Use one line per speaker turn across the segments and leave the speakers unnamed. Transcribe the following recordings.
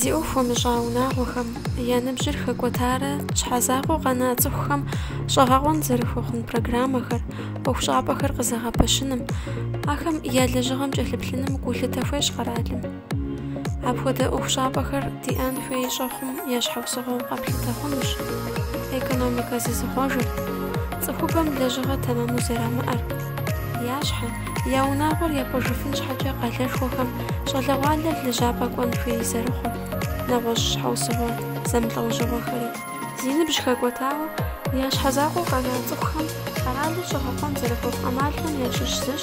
Зи ӏуэху хуэмыщӏа унагъуэхэм я ныбжьыр хэкӏуэтарэ щхьэ закъуэу къэна цӏыхухэм щӏэгъэкъуэн зэрыхуэхъун программэхэр, ӏуэхущӏапӏэхэр къызэгъэпэщыным, ахэм я лэжьыгъэм кӏэлъыплъыным гулъытэ хуещӏ къэралым. Апхуэдэ ӏуэхущӏапӏэхэр диӏэн хуей щӏэхъум я щхьэусыгъуэу къэплъытэ хъунущ. Экономикэ зызыхъуэжыр, цӏыхубэм лэжьыгъэ тэмэму зэрамыӏэр, я щхьэ, я унагъуэр япӏыжыфын щхьэкӏэ къалэшхуэхэм щӏалэгъуалэр лэжьапӏэ кӏуэн хуей зэрыхъур, нэгъуэщӏ щхьэусыгъуэ зэмылӏэужьыгъуэхэри. Зи ныбжь хэкӏуэтауэ, я щхьэ закъуэу къэна цӏыхухэм къэралыр щӏэгъэкъуэн зэрыхуэхъу ӏэмалхэм ящыщ зыщ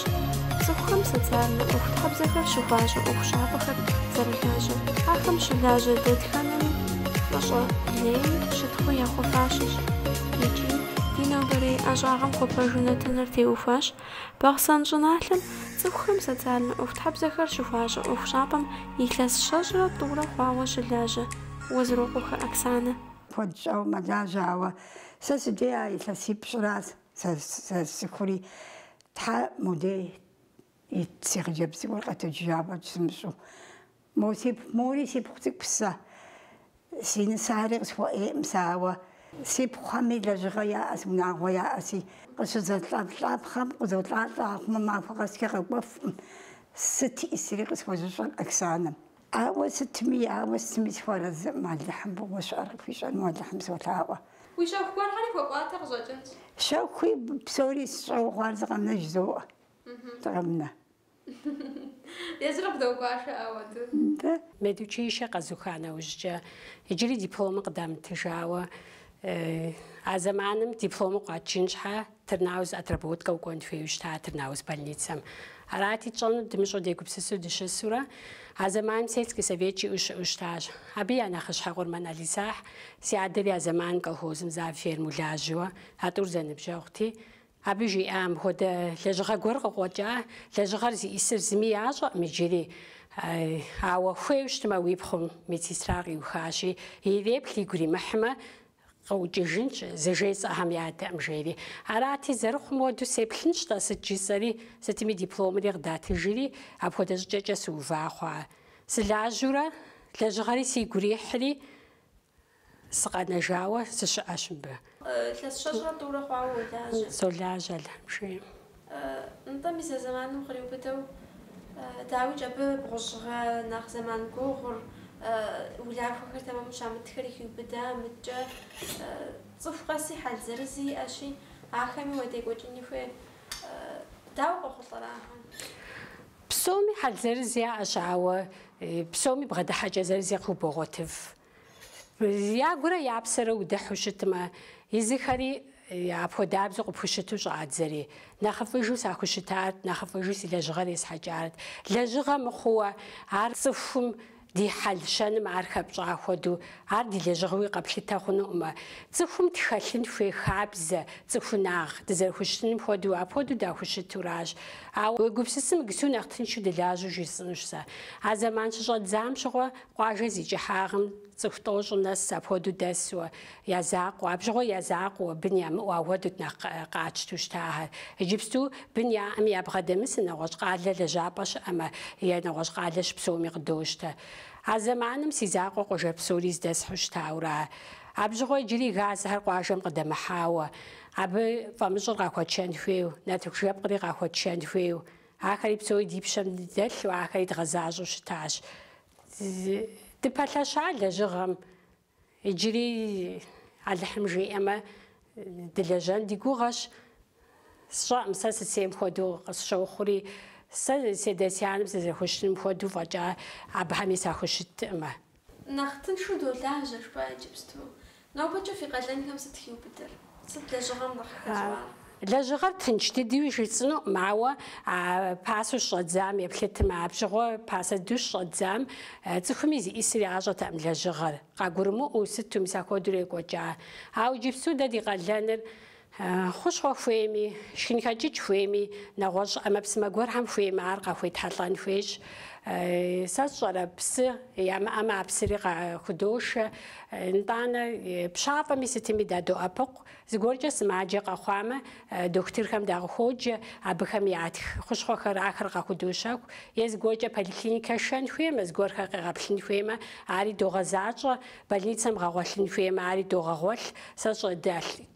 цӏыхухэм социальнэ ӏуэхутхьэбзэхэр щыхуащӏэ ӏуэхущӏапӏэхэр зэрылажьэр. Ахэм щылажьэ дэтхэнэми фӏыщӏэ лейи щытхъуи яхуэфащэщ. Икӏи ди нобэрей ӏэщӏагъэм хуэпэжу нэтыныр теухуащ. Бахъсэн щӏыналъэм цӏыхухэм социальнэ ӏуэхутхьэбзэхэр щыхуащӏэ ӏуэхущӏапӏэм илъэс щэщӏрэ тӏурэ хъуауэ щылажьэ Уэзрокъуэхэ Оксанэ. Куэд щӏауэ
мэлажьэ, ауэ сэ си дей а илъэсипщӏыращ сэ сцӏыхури. Тхьэ модей си хъыджэбз гуэр къэтэджыжа фӏэкӏ сымыщӏэу. Мо си пхъу, мори си пхъу цӏыкӏу псэ. Си нысари къысхуэӏейӏым сэ, ауэ. Си пхъухэми лэжьыгъэ яӏэщ, унагъуэ яӏэщи. Къыщызэлӏэлӏапхъэм къызолӏалӏэ, ахъумэ махуэ къэскӏэ къэкӏуэфӏым. Сыт ӏисри къысхуэзыщӏэр Оксанэм. Ауэ сытми ауэ сытми сыхуэрэзыӏым, Алыхьым фӏыгъуэ щыӏэр къыхуищӏэну Алыхьым
солъаӏуэ. Уи щэху гуэрхэри хуэпӏуатэ къыщӏэкӏынщ.
Щэхуи псори сщӏэу хъуар зы къэмынэ жызоӏэ. Зы къэмынэ.
Езыри къыбдогуашэ ауэду.
Медучилищэ къэзуха нэужькӏэ, иджыри дипломыр къыдамытыжауэ, а зэманым дипломыр къуатыжын щхьэ Тырнауз отработкэ укӏуэн хуейуэ щыта Тырнауз больницэм. Арати, тщӏэнур дымыщӏэу дегупсысу дыщысурэ, а зэманым Сельский совет жиӏэу щыӏэу щытащ. Абы я нэхъыщхьэ Къурмэн Алисахь си адэри а зэманым колхозым завфермэу лажьэуэ а тӏур зэныбжьэгъути, Абы жиӏа мыпхуэдэ лэжьыгъэ гуэр къыкъуэкӏа, лэжьыгъэр зиӏисыр зыми ящӏэкъым иджыри. Ауэ хуейу щытмэ, уи пхъум медсестра къиухащи, иреплъ, игу иримыхьмэ, къыӏукӏыжынщ, зыжесӏэхэм ядэӏым, жери. Арати, зэрыхъум хуэдэу сеплъынщ-тӏэ, сыт жысӏэри, сытми дипломри къыдатыжри, апхуэдэ щӏыкӏэкӏэ сыува хъуа. Сылажьэурэ, лэжьыгъэри сигу ирихьри, Сыкъэнэжауэ сыщыӏэщ мыбы. Илъэс
щэщӏрэ тӏурэ хъуауэ уолажьэ. Солажьэ
Алыхьым жиӏэм. Нтӏэ,
мис а зэманым къриубыдэу, дауикӏ, абы бгъущӏ гъэ нэхъ зэман гугъур, улахуэхэр тэмэму щамытхэри хиубыда, мыдкӏэ цӏыху къэси хьэл зырызи иӏэщи, ахэми уадекӏуэкӏыни хуей. Дауэ къохъулӏэрэ ахэр?
Псоми хьэл зырыз яӏэщ, ауэ псоми бгъэдыхьэкӏэ зырыз къыхубогъуэтыф. Я гурэ я псэрэ удыхьу щытмэ, езыхэри апхуэдабзэу къыпхущыту щӏадзэри. Нэхъыфӏыжу сахущытарт, нэхъыфӏыжу си лэжьыгъэр есхьэкӏарт. Лэжьыгъэ мыхъууэ, ар цӏыхум Ди хьэл-щэным ар хэпщӏа хуэдэу, ар ди лэжьыгъэуи къэплъытэ хъунуӏымэ. Цӏыхум тхэлъын хуей хабзэ, цӏыхунагъ, дызэрыхущытыным хуэдэу, апхуэдэу дахущытуращ. Ауэ уегупсысым, иджыпсту нэхъ тыншу дылажьэу жысӏынущ сэ. А зэман щыщӏэддзам щыгъуэ, къуажэ зи кӏыхьагъым цӏыху тӏощӏым нэс апхуэдэу дэсуэ, Я закъуэ, абщыгъуэ я закъуэуэ, бын ямыӏэу ахуэдут нэхъ къатщту щыта ахэр. Иджыпсту бын яӏэми ябгъэдэмысу нэгъуэщӏ къалэ лэжьапӏэ щыӏэмэ, е нэгъуэщӏ къалэ щыпсэуми къыдощтэ. А зэманым си закъуэ къуажэ псори здэсхьу щытаура? Абщыгъуэ иджыри газхэр къуажэм къыдэмыхьауэ, абы фӏамыщӏыр къахуэтшэн хуейу, нартыху жэпкъри къахуэтшэн хуейу, ахэри псори ди пщэм дэлъу, ахэри дгъэзащӏэу щытащ. Дыпэлъэща лэжьыгъэм Иджыри Алыхьым жиӏэмэ, дылэжьэн ди гугъэщ. Сщӏэӏым, сэ сысейм хуэдэу къысщохъури, сэ сядэ-сянэм сызэрыхущытыным хуэдэу фӏэкӏа абыхэми сахущыттыӏымэ. Нэхъ
тыншу долажьэ, жыпӏа иджыпсту. Нобэкӏэ фи къалэнхэм сыт хиубыдэр? Сыт лэжьыгъэм
къыхэщӏар? Лэжьыгъэр тынч дыдуи жысӏынуӏым, ауэ а пасэу щыщӏэддзам еплъытымэ, абщыгъуэ пасэ дыдэу щыщӏэддзам цӏыхуми зищӏысыр ящӏэтэӏым лэжьыгъэр. Къагурымыӏуэу сыту мис ахуэдэурэ екӏуэкӏа. Ауэ иджыпсту дэ ди къалэныр хущхъуэ хуейми, шхынхэкӏыкӏ хуейми, нэгъуэщӏ ӏэмэпсымэ гуэрхэм хуеймэ ар къахуетхьэлӏэн хуейщ. Сэ сщӏэрэ, псы ямыӏэмэ а псыри къахудошэ, Нтӏанэ, пщафӏэми сытми дадоӏэпыкъу. Зыгуэркӏэ сымаджэ къэхъуамэ, дохутырхэм дакъыхуоджэ, абыхэм ятх хущхъуэхэр ахэр къахудощэху. Е зыгуэркӏэ поликлиникэ шэн хуеймэ, зыгуэрхэр къегъэплъын хуеймэ, ари догъэзащӏэ, больницэм гъэгъуэлъын хуеймэ, ари догъэгъуэлъ. Сэ сщӏэ,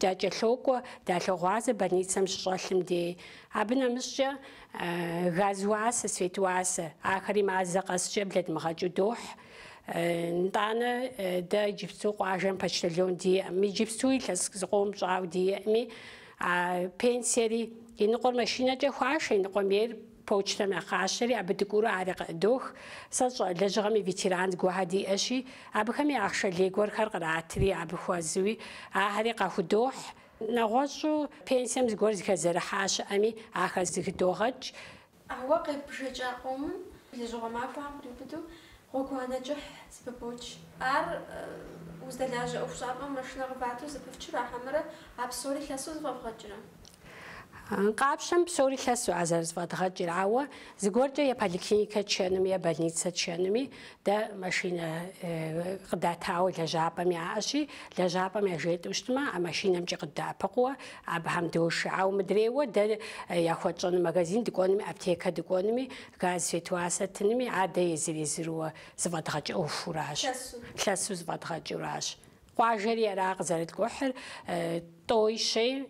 дакӏэлъокӏуэ, далъогъуазэ больницэм щыщӏэлъым дей. Абы нэмыщӏкӏэ газ уасэ, свет уасэ. Ахэри мазэ къэскӏэ блэдмыгъэкӏыу дохь. Нтӏанэ дэ иджыпсту къуажэм почтальон диӏэм, иджыпсту илъэс зыкъом щӏауэ диӏэми, а пенсиери и ныкъуэр машинэкӏэ хуашэ, и ныкъуэм ейр почтэм ягъашэри, абы дыкӏуурэ ари къыӏыдох. Сэ сщӏэ лэжьыгъэм и ветеран зыгуэрхэ диӏэщи, абыхэм я ахъшэ лей гуэрхэр къратри, абы хуэзуи, ахэри къахудохь. Нэгъуэщӏу пенсием зыгуэр зыхэзэрыхьа щыӏэми, ахэр зыхыдогъэкӏ.
Ауэ къеббжэкӏа къомым, лэжьыгъуэ махуэхэм къриубыду, гъуэгуанэ кӏыхь зыпыбоч. Ар уздэлажьэ ӏуэхущӏапӏэм машинэ
къывату зыпыфчрэ хьэмэрэ а псори лъэсу зыфӏэвгъэкӏрэ? Къапщэм псори лъэсу а зэрызыфӏэдгъэкӏыр, ауэ зыгуэркӏэ е поликлиникэ тшэнуми, е больницэ тшэнуми дэ машинэ къыдатауэ лэжьапӏэм яӏэщи, лэжьапӏэм яжетӏэу щытмэ, а машинэмкӏи къыддэӏэпыкъууэ, Абыхэм дошэ. Ауэ мыдрейуэ дэ яхуэтщӏэну магазин дыкӏуэнуми, аптекэ дыкӏуэнуми, газ, свет уасэ тынми, ар дэ езыр-езыруэ зыфӏэдгъэкӏ ӏуэхуращ, лъэсу зыфӏэдгъэкӏуращ. Къуажэри ара къызэрыткӏухьыр, тӏой-щей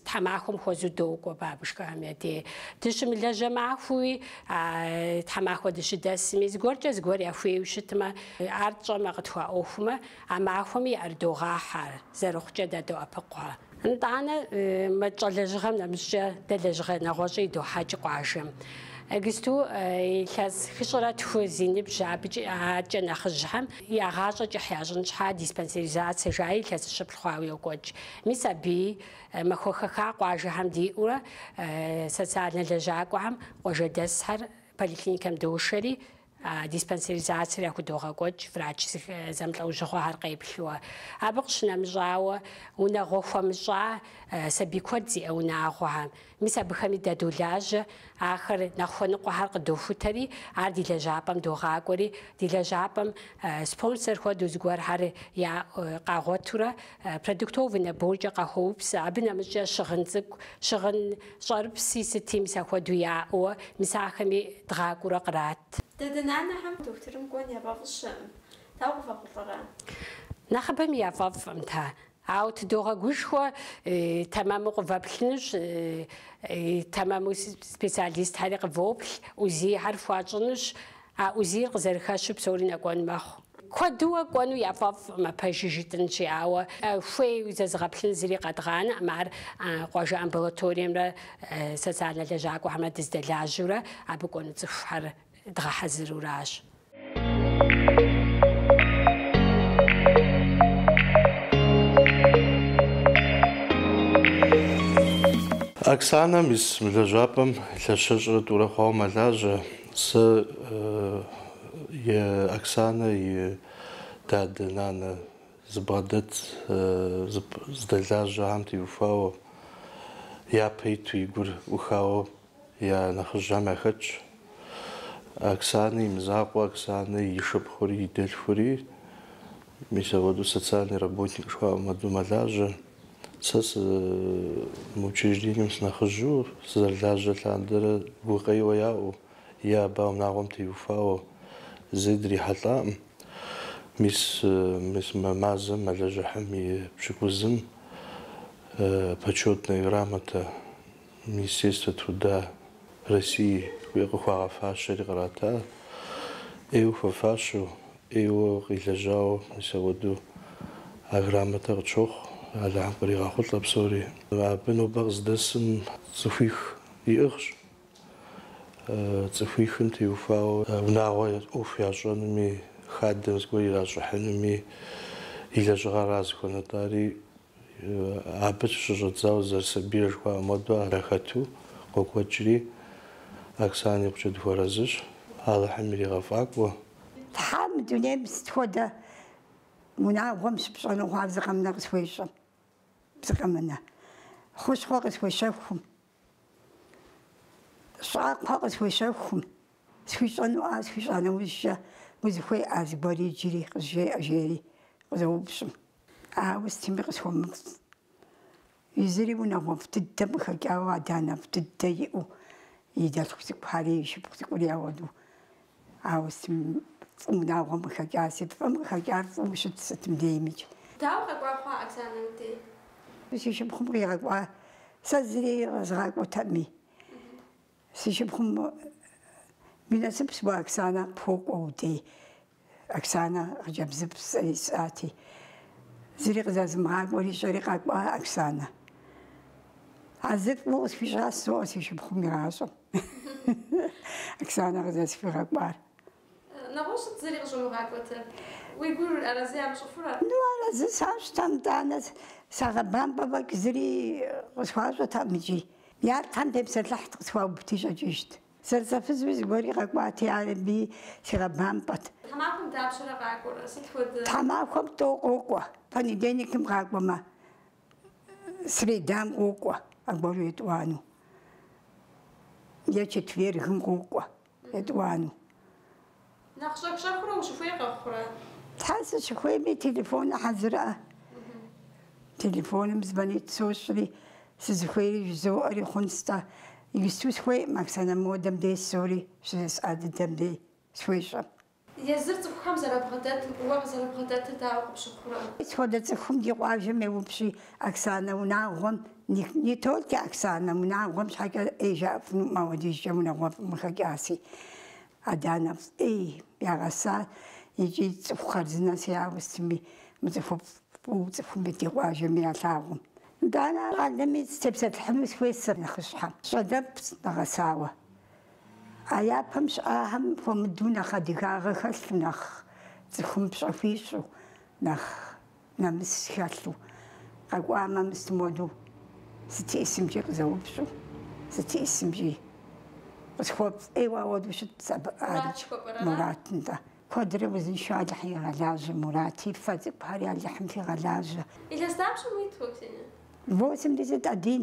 тхьэмахуэм хуэзу докӏуэ бабышкэхэм я дей. Дыщымылажьэ махуэуи, а тхьэмахуэ дыщыдэсми, зыгуэркӏэ зыгуэр яхуейуэ щытмэ, ар тщӏэмэ, къытхуаӏуэхумэ, А махуэми ӏэрыдогъэхьэ ар, зэрыхъукӏэ дадоӏэпыкъухэ. Нтӏанэ, мы тщӏэ лэжьыгъэм нэмыщӏкӏэ дэ лэжьыгъэ нэгъуэщӏ идохьэкӏ къуажэм. Иджыпсту илъэс хыщӏрэ тху зи ныбжь абыкӏэ аркӏэ нэхъыжьхэм я гъащӏэ кӏыхь ящӏын щхьа диспансеризацэ жаи илъэс щыплӏ хъуауэ йокӏуэкӏ. Мис абыи махуэ хэха къуажэхэм диӏэурэ социальнэ лэжьакӏуэхэм къуажэдэсхэр поликлиникэм дошэри, диспансеризацэр яхудогъэкӏуэкӏ врач зэмылӏэужьыгъуэхэр къеплъыуэ. Абы къыщынэмыщӏауэ, унагъуэ хуэмыщӏа сабий куэд зиӏэ унагъуэхэм. Мис абыхэми дадолажьэ, ахэр нэхъ хуэныкъуэхэр къыдохутэри, ар ди лэжьапӏэм догъакӏуэри, ди лэжьапӏэм спонсор хуэдэу зыгуэрхэр яӏэу къагъуэтурэ, Продуктовый наборкӏэ къахуэупсэ, абы нэмыщӏкӏэ щыгъын цӏыкӏу, щыгъын щӏэрыпси сыти мис ахуэдэу яӏэуэ, мис ахэми дгъакӏуэурэ кърат. Дадэ-нанэхэм
дохутырым кӏуэн яфӏэфӏыщэкъым, дауэ къывэхъулӏэрэ?
Нэхъыбэми яфӏэфӏкъым-тэ, ауэ тыдогъэгушхуэ тэмэму къывэплъынущ, тэмэму специалистхэри къывоплъ, УЗИ-хэр фхуащӏынущ, А УЗИ-р къызэрыхэщу псори нэкӏуэн мэхъу. Куэдууэ кӏуэну яфӏэфӏкъым, а пэжу жытӏынщи, ауэ хуейу зэзыгъэплъын зыри къэдгъанэкъым. Ар къуажэ амбулаториемрэ социальнэ лэжьакӏуэхэмрэ дыздэлажьэурэ, абы кӏуэну цӏыхухэр
дгъэхьэзыруращ. Оксанэ мис мы лэжьапӏэм илъэс щэщӏрэ тӏурэ хъуауэ мэлажьэ. Сэ е Оксанэ и дадэ, нанэ зыбгъэдэт здэлажьэхэм теухуауэ, япэ иту и гур ӏухауэ я нэхъыжьхэм яхэтщ. Оксанэ и мызакъуэ, Оксанэ и шыпхъури, и дэлъхури, мис апхуэдэу социальный работник жыхуаӏэм хуэдэу мэлажьэ. Сэ сы мы учреждением сынэхъыжьу, сызэрылажьэ лъандэрэ гукъеуэ яӏэу е абы унагъуэм теухуауэ зэи дрихьэлӏакъым. Мис мис мы мазэм мэлыжьыхьым и пщыкӏузым Почетная грамота Министерства труда России хуей къыхуагъэфащэри кърата, ӏейуэ хуэфащэу, ӏейуэ къилэжьауэ мис апхуэдэу а грамотэр къытщохъу, Алыхьым къригъэхъулӏэ псори. Абы нобэ къыздэсым цӏыхуих иӏыгъщ, цӏыхуихым теухуауэ унагъуэ ӏуэху ящӏэнуми, хадэм зыгуэр иращӏыхьынуми и лэжьыгъэра зыхуэунэтӏари Абы щыщӏэдзауэ зэрысабийрэ жыхуаӏэм хуэдэу ар яхэту къокӏуэкӏри, Оксанэ икъукӏэ дыхуэарэзыщ. Алыхьым иригъэфӏакӏуэ. Тхьэ,
мы дунейм сыт хуэдэ унагъуэм щыпщӏэну хъуа зы къэмынэ къысхуещӏэ, зы къэмынэ хущхъуэ къысхуещэхум. Щӏакхъуэ къысхуещэхум, схуищӏэнуӏар схуищӏа нэужькӏэ, узыхуеӏэ зыгуэри иджыри къызжеӏэ, жери къызоупщӏым. Ауэ сытми къысхуэмыфӏ. Езыри унагъуэфӏ дыдэм къыхэкӏауэ адэ-анэфӏ дыдэ иӏэу, и дэлъху цӏыкӏухэри, и шыпхъу цӏыкӏури ауэдэу. Ауэ сытым фӏы унагъуэм къыхэкӏар? Сыт фӏым къыхэкӏар фӏыуэ щыт сытым деймикӏ. Дауэ
къэкӏуа хъуа Оксанэ мыбдеж? Си шыпхъум
къигъэкӏуа сэ зыри къэзгъакӏуэтэкъыми. Си шыпхъум уи насыпщ уэ Оксанэ къыпхуокӏуэ удей. Оксанэ хъыджэбзыфӏ сэри сщӏати. Зыри къызэзымыгъакӏуэр ищӏэри къэкӏуа Оксанэ. А зыр фӏыуэ къысхуищӏащ жызоӏэ си шыпхъум игъащӏэм. Оксанэ къызэсхуигъэкӏуар. Нэгъуэщӏ сыт
зыри къыщӏумыгъакӏуэтэр. Уи гур арэзы ямыщӏыфурэ?
Ну, арэзы сащӏтэм, итӏанэ сагъэбампӏэ фӏэкӏ зыри къысхуащӏэтэкъым икӏи. Я лӏхэм тепсэлъыхьт, къысхуаубти щӏэкӏыжт. Зэрызэфызуи зыгуэри къэкӏуати, ар абыи сигъэбампӏэт. Тхьэмахуэм дапщэрэ
къакӏуэрэ? Сыт хуэдэ? Тхьэмахуэм тӏэу
къокӏуэ, понедельникым къакӏуэмэ, Средам къокӏуэ, аргуэру етӏуанэу. Е четвергым къокӏуэ, етӏуанэу. Нэхъ
щӏэх-щӏэхыурэ ущыхуей къэхъурэ? Тхьэ,
сыщыхуейми, телефоныр хьэзырӏэ. Телефоным звонить сощӏри, сызыхуейри жызоӏэри хъунстӏэ. Иджысту схуейӏым Оксанэ модэм дей псори, щызэсӏа дыдэм дей, схуещӏэм.
Езыр цӏыхухэм зэрабгъэдэтым уэ
къызэрыббгъэдэтыр дауэ къыпщыхъурэ? Сыт хуэдэ цӏыхум ди къуажэм еупщӏи, Оксанэ унагъуэм, не только Оксанэ, унагъуэм щхьэкӏэ ӏей жаӏэфынуӏым апхуэдизкӏэ унагъуэфӏым къыхэкӏаси. Адэ-анэфӏ ӏей ягъэса икӏи цӏыху хъарзынэси, ауэ сытми, мы цӏыхуфӏ фӏыуэ цӏыхуми ди къуажэми ялъагъум. Итӏанэ а щӏалэми сытепсэлъыхьыну схуейт сэ нэхъыщхьэм. Щӏалэфӏ нэгъэсауэ. А япэм щыӏахэм хуэмыдэу нэхъ адыгагъэ хэлъу, нэхъ цӏыхум пщӏэ хуищӏу, нэхъ нэмыс хэлъу къэкӏуамэ, мыстымоду сытесымкӏи къызэупщӏу, сытесымкӏи къысхуэпцӏ. Ӏейуэ ауэдэу щытт абы ӏэрыкӏ Мурат нтӏэ. Куэдрэ узыншэу Алыхьым игъэлажьэ, Мурати, фэ цӏыкӏухэри Алыхьым фигъэлажьэ.
Илъэс дапщэ уит уэ, Ксения?
Восемьдесят один.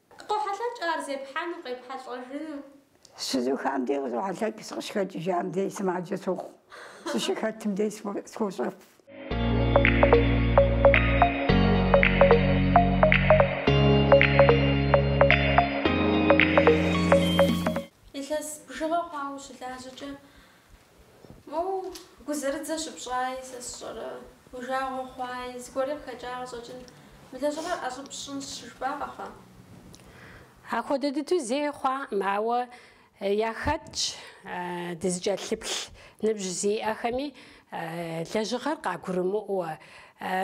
Къохьэлъэкӏ ар зепхьэну, къепхьэлӏэжыну.
Щызухам дей къызохьэлъэкӏ, сыкъыщыхэкӏыжам дей сымаджэ сохъу, сыщыхэтым дей схощӏэф. Илъэс
бжыгъэ хъуауэ ущылажьэкӏэ, Моуэ гузэрыдзэ щыпщӏаи, сэ сщӏэрэ, уи жагъуэ хъуаи, зыгуэри къыхэкӏа къыщӏэкӏын, мы лэжьыгъэр ӏэщӏыб сщӏынщ,
жыпӏакъэ-хьэ? Апхуэдэ дыдэу зэи хъуакъым, ауэ яхэтщ дызыкӏэлъыплъ ныбжь зиӏэхэми лэжьыгъэр къагурымыӏуэ.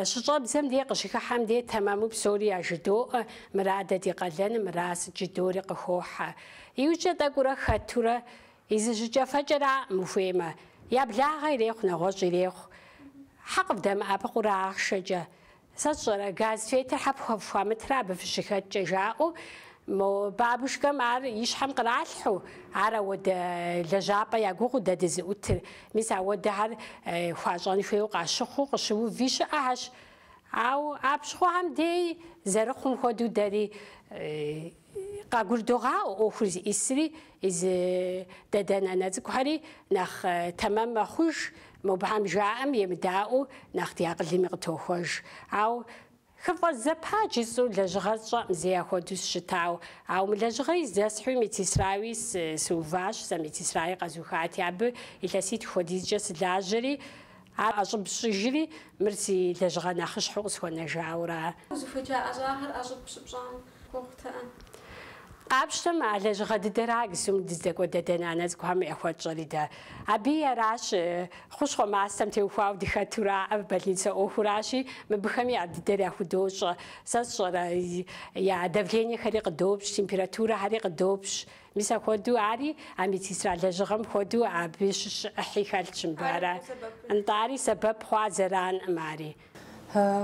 Щыщӏэбдзэм дей къыщыхыхьэм дей тэмэму псори яжыдоӏэ, мыра дэ ди къалэным, мыра сыт жыдори къыхохьэ. Иужькӏэ тӏэкӏуурэ хэтурэ Езы жьыкӏэфэкӏэраӏым, ухуеймэ. Я благъэ ирехъу, нэгъуэщӏ ирехъу. Хьэ къывдэмыӏэпыкъуурэ ахъшэкӏэ? Сэ сщӏэрэ, газ, светыр хьэ пхуэ фхуамытрэ абы фыщыхэткӏэ? жаӏэу мо бабушкэм ар и щхьэм къралъхьэу, ар ауэдэ лэжьапӏэ ягугъыу дэ дызыӏутыр. Мис ауэдэхэр хуащӏэн хуейуэ къащыхъуу къыщыуви щыӏэхэщ. Ауэ апщыгъуэхэм дей зэрыхъум хуэдэу дэри Къагурдогъаӏуэ ӏуэхур зиӏисри, зы дадэ-нанэ цӏыкӏухэри нэхъ тэмэм мэхъуж, мобгьэм жаӏэм емыдаӏуэу нэхъ ди акъылыми къытохуэж. Ау хыфӏэзэпа жысӏэу лэжьыгъэр сщӏэӏым зэи ахуэдэу сыщытауэ. Ау мы лэжьыгъэри здэсхьуи медсестрауи сыуващ, сэ медсестрауи къэзухати, абы илъэситху хуэдизкӏэ сылажьэри, ар ӏэщӏыб сщӏыжри, мыр си лэжьыгъэ нэхъыщхьэу
къысхуэнэжауэращ. Узыхуеджа ӏэщӏагъэр ӏэщӏыб щыпщӏам
Къапщтэм а лэжьыгъэ дыдэр АГСУ-м дыздэкӏуэ дадэ-нанэ цӏыкӏухэм яхуэтщӏэри дэ. Абы аращи хущхъуэ мастэм теухуауэ дыхэтураӏэ, больницэ ӏуэхуращи, мыбыхэми ар дыдэр яхудощӏэ. Сэ сщӏэрэ, я давлениехэри къыдопщ, температурэхэри къыдопщ. Мис апхуэдэу ари, а медсестра лэжьыгъэм хуэдэу абы щыщ ӏыхьи хэлъщ мыбы ара. Нтӏари, сэбэп хъуа зэранкъым ари.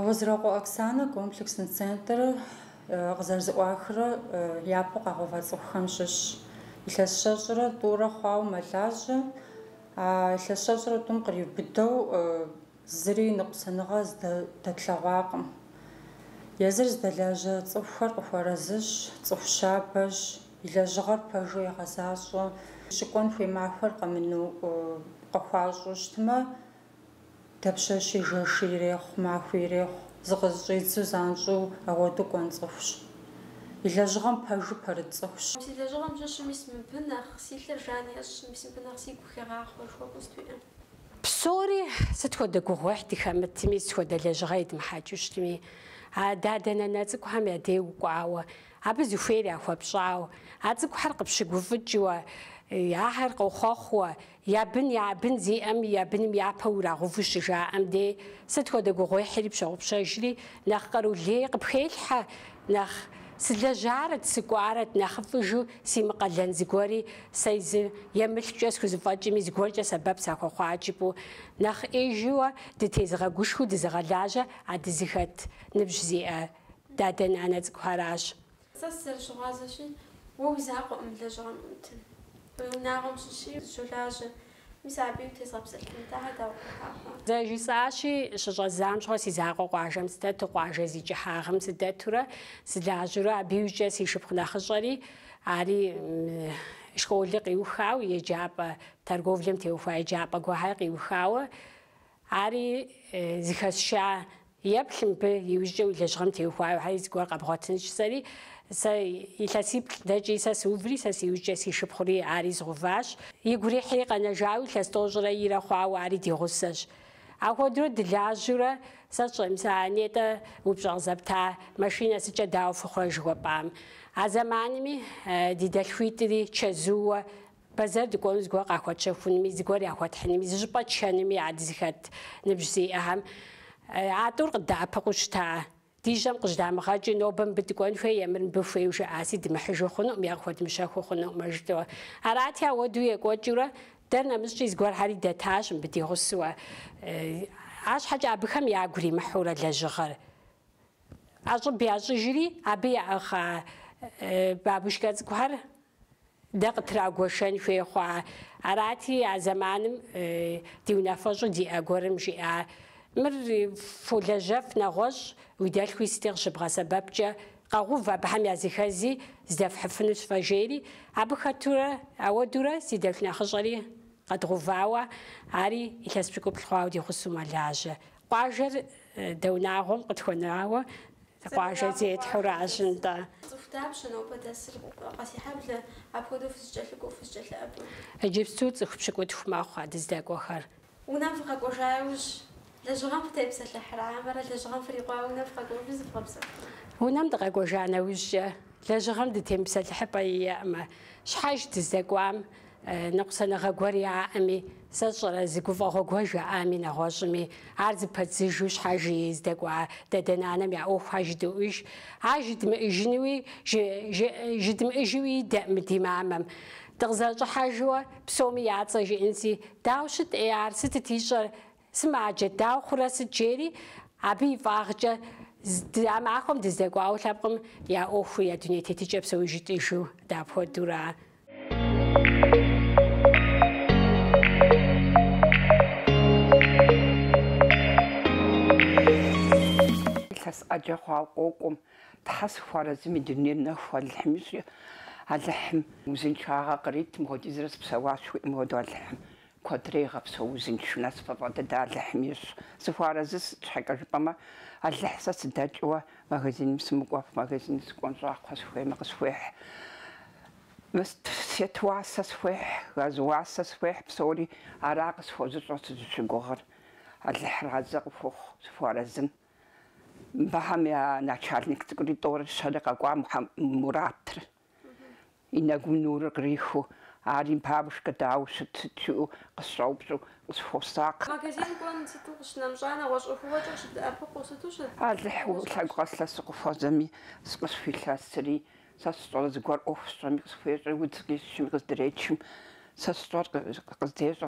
Уэзракъуэ Оксанэ комплексный центр къызэрызыӏуахрэ япэу къагъэува цӏыхухэм щыщщ. Илъэс щэщӏрэ тӏурэ хъуауэ мэлажьэ. А илъэс щэщӏрэ тӏум къриубыдэу зыри ныкъусаныгъэ здэтлъэгъуакъым. Езыр здэлажьэ цӏыхухэр къыхуэразыщ, цӏыху щабэщ, и лэжьыгъэр пэжу егъэзащӏэ. Щыкӏуэн хуей махуэр къэмыну къыхуащӏу щытмэ, Дапщэщи, жэщи ирехъу, махуи ирехъу, зыкъызэщӏидзу занщӏэу ауэдэу кӏуэн цӏыхущ. И лэжьыгъэм пэжу пэрыт цӏыхущ. Си лэжьыгъэм щыщым
мис мыбы нэхъ си лъыр жан ещӏ, мис мыбы нэхъ сигу хегъахъуэ жыхуэпӏэу сыт уиӏэ.
Псори сыт хуэдэ гугъуехь дыхэмытми, сыт хуэдэ лэжьыгъэ едмыхьэкӏыу щытми, а дадэ-нанэ цӏыкӏухэм я де укӏуауэ, абы зыхуейр яхуэпщӏауэ, а цӏыкӏухэр къыпщыгуфӏыкӏыуэ, ахэр къохъуэхъууэ, Я бын, я бын зиӏэм, я быным япэу урагъэуву щыжаӏэм де сыт хуэдэ гугъуехьри пщогъупщэжри, Нэхъ къару лей къыпхелъхьэ, нэхъ сылэжьарэт, сыкӏуарэт, нэхъыфӏыжу симыкъалэн зыгуэри сэ зы мылъкукӏэ схузэфӏэкӏми зыгуэркӏэ сэбэп сахуэхъуа жыпӏэу, нэхъ ӏеижыуэ дытезыгъэгушхуэу дызыгъэлажьэ а дызыхэт ныбжь зиӏэ дадэ-нанэ цӏыкӏухэращ.
Сэ сызэрыщыгъуазэщи, уэ уи закъуэкъым лэжьыгъэм ӏутыр. Уи унагъуэм щыщи
щолажьэ. Мис абыи утезгъэпсэлъынт, ахэр дауэ къыхыхьа хъуа? Зэ жысӏащи, щыщӏэздзам щыгъуэ си закъуэ къуажэм сыдэту, къуажэ зи кӏыхьагъэм сыдэтурэ, сылажьэурэ абы иукӏэ си шыпхъу нэхъыщӏэри, ари школыр къиухауэ, еджапӏэ, торговлэм теухуа еджапӏэ гуэр къиухауэ, Ари зыхэсша еплъ мыбы иужькӏэ уи лэжьыгъэм теухуауэ, хьэи зыгуэр къэбгъуэтынщ сэри, сэ илъэсиплӏ дэкӏи, сэ сыуври, сэ сиужькӏэ си шыпхъури ари згъуващ. Игу ирихьри къэнэжауи илъэс тӏощӏрэ ирэ хъуауэ ари ди гъусэщ. Апхуэдэурэ дылажьэурэ сэ сщӏэм, нетӏэ упщӏэ къызэпта машинэ сыткӏэ дауэ фыхъурэ жыхуэпӏам. А зэманми ди дэлъхуитӏри чэзууэ Бэзэр дыкӏуэну зыгуэр къахуэтщэхунми, зыгуэр яхуэтхьынми, зыщӏыпӏэ тшэнми дызыхэт ныбжь зиӏэхэм а тӏур къыддэӏэпыкъуу щыта. Ди жьэм къыжьдамыгъэкӏыу, нобэ мыбы дыкӏуэн хуей е мыр мыбы хуейу жаӏаси, дымыхьыжу хъунукъым е къыхуэдымыщэхуу хъунукъымэ жытӏэу. Арати, ауэдэу екӏуэкӏыурэ, дэр нэмыщӏкӏи зыгуэрхьэри дэтащ мыбы ди гъусэуэ. Арщхьэкӏэ абыхэм ягу римыхьурэ лэжьыгъэр ӏэщӏыб ящӏыжри, абы яӏыгъа бабушкэ цӏыкӏухэр Дэ къытрагуэшэн хуей хъуа. Арати, а зэманым ди унафэщӏу диӏэ гуэрым жиӏа, Мыр фолэжьэф нэгъуэщӏ, уи дэлъхуи сыти къыщыбгъэсэбэпкӏэ, къэгъув абыхэм языхэзи здэфхьыфынущ фэ, жери, абы хэтурэ ауэдурэ си дэлъху нэхъыщӏэри къэдгъувауэ, ари илъэс пщыкӏуплӏ хъуауэ ди гъусэу мэлажьэ. Къуажэр дэ унагъуэм къытхуэнауэ къуажэ зетхьуращ нтӏэ. Цӏыху дапщэ нобэ дэсыр, Къэсейхьэблэ, апхуэдэу
фызыкӏэлъыкӏуэу, фызыкӏэлъыӏэбэу? Иджыпсту цӏыху
пщыкӏутху мэхъу а дыздэкӏуэхэр. Унэм
фыкъэкӏуэжа яужь, лэжьыгъэм фытепсэлъыхьрэ, хьэмэрэ лэжьыгъэм фрикъуауэ унэм фыкъэкӏуэжу
зывгъэпсэхурэ? Унэм дыкъэкӏуэжа нэужькӏэ, лэжьыгъэм дытемыпсэлъыхьыпӏэ иӏэӏымэ, щхьэж дыздэкӏуам Ныкъусаныгъэ гуэр яӏэми, сэ сщӏэрэ зы гуфӏэгъуэ гуэр жаӏами, нэгъуэщӏми, ар зыпэдзыжу щхьэжи здэкӏуа дадэ-нанэм я ӏуэхухьэр жыдоӏуж, ар жыдмыӏыжынуи, жыдмыӏыжуи идэӏым ди мамэм. Дыкъызэрыщӏыхьэжыуэ, псоми я цӏэ жиӏэнси, дауэ щыт ӏей ар, сытыт ищӏэр, Сымаджэ, дауэ хъурэ сыт жери, абы и фӏагъкӏэ дэ а махуэм дыздэкӏуауэ лъэпкъым я ӏуэхур, я дуней тетыкӏэр псоми жытӏыжу дапхуэдэура.
Илъэс ӏэджэ хъуауэ къокӏуэм Тхьэ сыхуарэзым, и дунейр нэху Алыхьым ищӏи, Алыхьым узыншагъэ къритым хуэдизрэ сыпсэуащ хуиӏэм хуэдэу Алыхьым Куэдрэ игъэпсэу узыншэу насыпыфӏэ дыдэ Алыхьым ищӏ. Сыхуэарэзы щхьэкӏэ жыпӏэмэ, Алыхь сэ сыдэкӏыуэ магазиным сымыкӏуэф, магазиным сыкӏуэн щӏакхъуэ сыхуеймэ къысхуехь, свет уасэ схуехь, газ уасэ схуехь, псори ара къысхуэзыщӏэр сызыщыгугъыр. Алыхь разэ къыхухъу сыхуэарэзым. Абыхэм я начальник цӏыкӏури тӏэурэ-щэрэ къэкӏуа Муратрэ.
И нэгум нурыр кърихыу, ари бабушкэ дауэ ущыт жиӏэу къысщӏэупщӏэу, къысхуосакъ. Магазин кӏуэн сыту къыщынэмщӏа, нэгъуэщӏ ӏуэхугъуэкӏэ
къыщыбдэӏэпыкъуу сыту щыӏэ? Алыхь уэ
лъэгу къэслъэсу къыхуэзэми, къысхуилъэсри, сэ сщӏэрэ зыгуэр ӏуэху сщӏэми, къысхуещӏи, удз къисчми, къыздречым, сэ сщӏэр къыздещӏэ.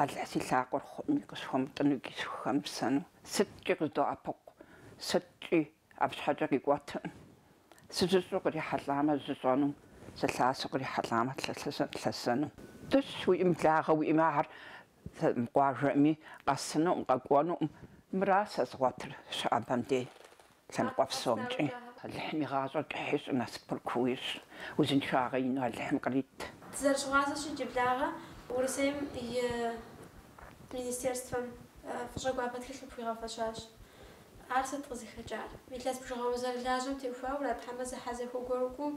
Алыхь си лъакъуэр хъуми, къысхуэмытӏыну икӏи схухэмысэну. Сыткӏи къыздоӏэпыкъу, сыткӏи абы щхьэкӏэ къикӏуэтыркъым. Сыжьыщӏэу кърихьэлӏамэ, жьыщӏэну, сылъасэу кърихьэлӏамэ, лъэсэну. Дыщ уиӏэм благъэ уиӏэмэ, ар къуажэми, къэсынукъым, къэкӏуэнукъым. Мыра сэ згъуэтыр, щыӏэбэм дей. Лъэныкъуэ псомкӏи Алыхьым и гъащӏэр кӏыхь ищӏу, насыпыр куу ищӏ, узыншагъэ ину Алыхьым кърит. Дызэрыщыгъуазэщ
иджы благъэ Урысейм и Министерствэм фӏыщӏэ гуапэ тхылъ къыпхуигъэфэщащ. Ар сыт къызыхэкӏар? Илъэс бжыгъэ узэрылажьэм теухуауэрэ, хьэмэ зэхьэзэхуэ гуэр кӏуу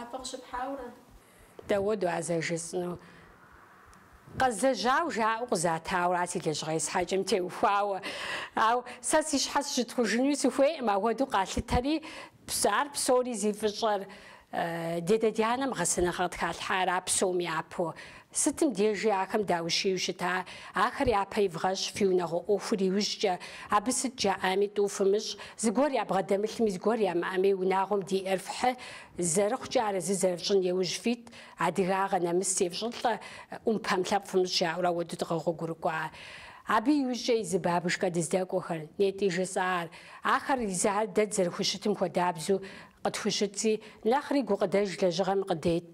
абы къыщыпхьауэрэ?
Дауэдэу а сэ жысӏэну? Къэзлэжьау жаӏэу къызатауэ ар си лэжьыгъэ есхьэкӏым теухуауэ. Ау сэ си щхьэ сыщытхъужынуи сыхуейкъым, ахуэдэу къалъытари ар псори зи фӏыщӏэр ди адэ ди анэм гъэсэныгъэ къытхалъхьара псом япэу. Сытым дежи ахэм даущийу щыта, ахэр япэ ивгъэщ фи унагъуэ ӏуэхур иужькӏэ, абы сыт жаӏэми тӏу фымыщӏ, зыгуэр ябгъэдэмылъми зыгуэр ямыӏэми унагъуэм диӏэр фхьы, Зэрыхъукӏэ арэзы зэрыфщӏын иужь фит адыгагъэ нэмыс зефщӏылӏэ ӏумпэм лъэпкъ фымыщӏ жаӏэурэ ахуэду дыкъэгъуэгурыкӏуа. Абы иужькӏэ езы бабушкэ дыздэкӏуэхэр, нетӏи жысӏар, ахэр езыхэр дэ дызэрыхущытым хуэдабзу къытхущытщи, нэхъри гукъыдэж лэжьыгъэм къыдет.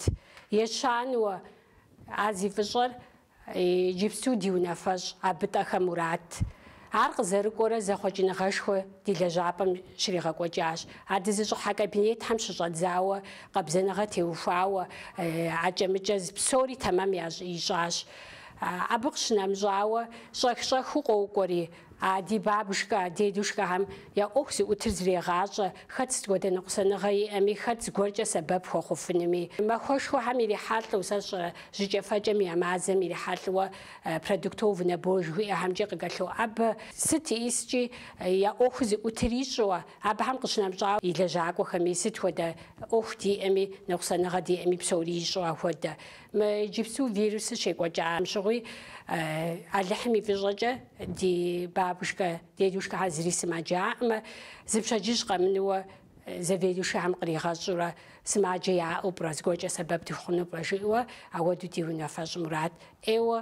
Ещанэуэ, а зи фӏыщӏэр Иджыпсту ди унафэщӏ Абытӏэхэ Мурат. Ар къызэрыкӏуэрэ зэхъуэкӏыныгъэшхуэ ди лэжьапӏэм щригъэкӏуэкӏащ. А дызыщӏыхьа кабинетхэм щыщӏэдзауэ, къабзэныгъэ теухуауэ, акӏэ-мыкӏэ зы псори тэмэм щищӏащ. Абы къыщынэмыщӏауэ, щӏэх-щӏэхыу къокӏуэри, А ди бабушкэ, дедушкэхэм я ӏуэху зыӏутыр зрегъащӏэ, хэт сыт хуэдэ ныкъусаныгъэ иӏэми, хэт зыгуэркӏэ сэбэп хуэхъуфынуми. Махуэшхуэхэм ирихьэлӏэу, сэ сщӏэрэ, жьыкӏэфэкӏэм я мазэм ирихьэлӏэуэ продуктовый набор жыхуиӏэхэмкӏи къалъоӏэбэ, сыт искӏи я ӏуэху зыӏутыр ищӏэуэ, абыхэм къыщынэмыщӏауэ, и лэжьакӏуэхэми, сыт хуэдэ ӏуэху диӏэми, ныкъусаныгъэ диӏэми, псори ищӏэу ахуэдэ. Мы иджыпсту вирусыр щекӏуэкӏам щыгъуи, Алыхьым и фӏыщӏэкӏэ, Ди бабушкэ, дедушкэхэ зыри сымаджаӏэмэ, зы пщэдджыжь къэмынууэ заведующэхэм къригъэщӏэурэ, сымаджэ яӏэу пӏэрэ зыгуэкӏэ сэбэп дыхъуну пӏэрэ жиӏэуэ, ауэду ди унафэщӏ Мурат ӏейуэ,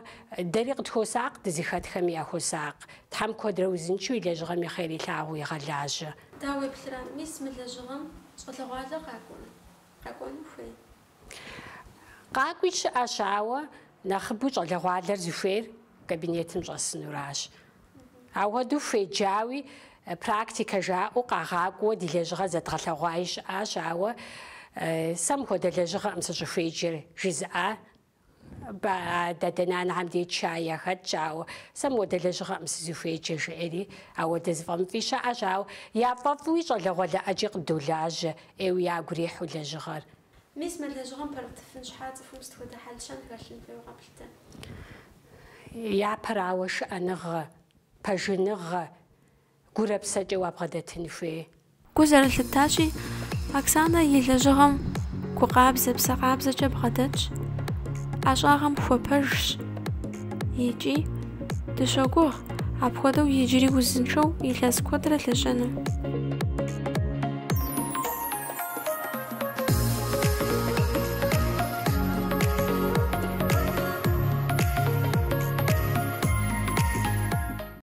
дэри къытхуосакъ, дызыхэтхэми яхуосакъ. Тхьэм куэдрэ узыншэу и лэжьыгъэм и хъер илъагъуу игъэлажьэ. Дауеплърэ,
мис мы лэжьыгъэм щӏалэгъуалэр къакӏуэрэ? Къэкӏуэну хуей?
Къакӏуи щыӏэщ, ауэ нэхъыбэу щӏалэгъуалэр зыхуейр кабинетым щӏэсынуращ. Ауэдэу хуеджауи, практикэ жаӏэу къагъакӏуэуэ ди лэжьыгъэр зэдгъэлъэгъуаи щыӏэщ, ауэ сэ мыхуэдэ лэжьыгъэкъым сыщӏыхуеджэр, жызыӏа Ба, дадэ, нанэхэм деж кӏуаи яхэтщ, ауэ сэ мыуэдэ лэжьыгъэкъым сызыхуеджэр, жеӏери. Ауэдэ зыфӏэмыфӏи щыӏэщ, ауэ яфӏэфӏуи щӏалэгъуалэ ӏэджи къыддолажьэ, ӏейуэ ягу ирихьу лэжьыгъэр. Мис
мы лэжьыгъэм пэрытыфын щхьэ цӏыхум сыт хуэдэ хьэлщэн хэлъын хуейуэ
къэплъытэ? Япэрауэ шыӏэныгъэ, пэжыныгъэ, гурэпсэкӏэ уабгъэдэтын хуей. Гу
зэрылъытащи, Оксанэ и лэжьыгъэм гу къабзэ, псэ къабзэкӏэ бгъэдэтщ, ӏэщӏагъэм хуэпэжщ икӏи дыщогугъ апхуэдэу иджыри узыншэу илъэс куэдрэ лэжьэну.